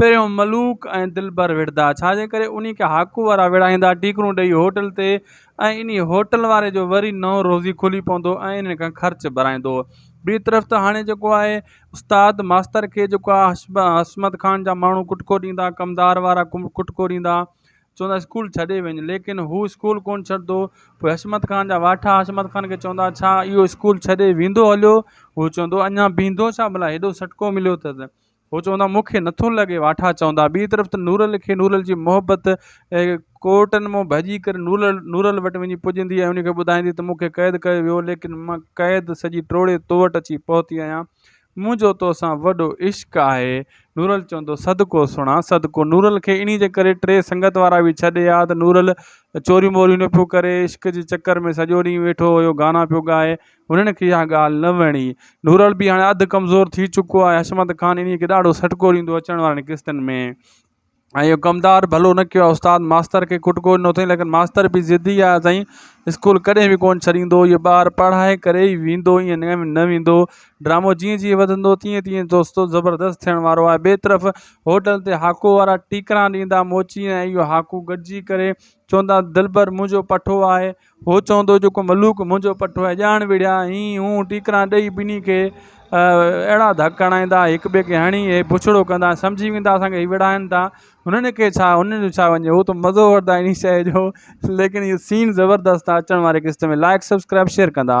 پهريون ملوڪ ۽ دلبر وڙهندا، ڇاجي ڪري انهي کي هاڪو وارا وڙهائيندا، ٽيڪرون ڏيئي هوٽل تي ۽ انهي هوٽل واري جو وري نئون روزي کولي پوندو ۽ انهن کان خرچ ڀرائيندو. ٻي طرف ته هاڻي جيڪو آهي استاد ماستر کي جيڪو آ حشمت خان جا ماڻهو ڪٽڪو ڏيندا، ڪمدار وارا ڪٽڪو ڏيندا، چوندا اسڪول ڇڏي وڃ، ليڪن هو اسڪول ڪونه ڇڏندو، پوء حشمت خان جا واٺا حشمت خان کي چوندا ڇا اهو اسڪول ڇڏي ويندو هليو، هو چوندو اڃان بيهندو ڇا ڀلا هيڏو سٽڪو مليو اٿس، هو چوندا مون کي نٿو لڳي واٺا چوندا ٻي طرف ته نورل کي نورل جي محبت ڪورٽن مون ڀڄي ڪري نورل نورل وٽ وڃي پڄندي ۽ ان کي ٻڌائيندي ته مون کي قيد ڪيو ويو ليڪن مان قيد سڄي ٽوڙي تو وٽ اچي پهتي آهيان منهنجو تو سان وڏو عشق آهي نورل چوندو صدقو سڻا صدقو نورل کي انهي جي ڪري ٽي سنگت وارا به ڇڏي آ ته نورل چوريون ٻوريون نه پيو ڪري عشق جي چڪر ۾ سڄو ڏينهن ويٺو هيو گانا پيو ڳائي هنن کي اها ڳالهه نه وڻي. نورل به هاڻي اڌ ڪمزور ٿي چڪو آهي. حشمت خان انهيء کي ڏاڍو سٽڪو ڏيندو هو اچڻ وارين قسطن ۾. ۽ اهو ڪمدار ڀلو نه ڪيو آهي. استاد ماستر کي ڪٽڪو ڏنو اٿئي، ليڪن ماستر به ضدي آهي سائين. اسڪول ڪڏهن به ڪونه ڇڏيندو. اهو ٻار پڙهائي ڪري ئي ويندو، ائين نه نه ويندو. ڊرامو جيئن جيئن وڌندو، تيئن تيئن دوستو زبردست ٿيڻ وارو آهي. ٻئي طرف هوٽل تي هاڪو وارا ٽيڪران ڏيندا موچي ۽ اهو هاڪو گڏجي ڪري چوندا دلبر منهنجو پٺو آهي. هو چوندو جيڪو ملوڪ منهنجو پٺو ۽ ڄاڻ وڙهيا هين هون ٽيڪران ڏئي ٻنهي کي اهڙا ڌڪ هڻائيندا هڪ ٻئي کي هڻي هي بڇڙو ڪندا سمجهي ويندا اسان کي هي وڙهائن ٿا هنن کي ڇا هنن جو ڇا وڃي هو ته مزو وٺندا ان شيء جو ليڪن هي سين زبردست اچڻ واري قسط ۾ لائڪ سبسڪرائب شيئر ڪندا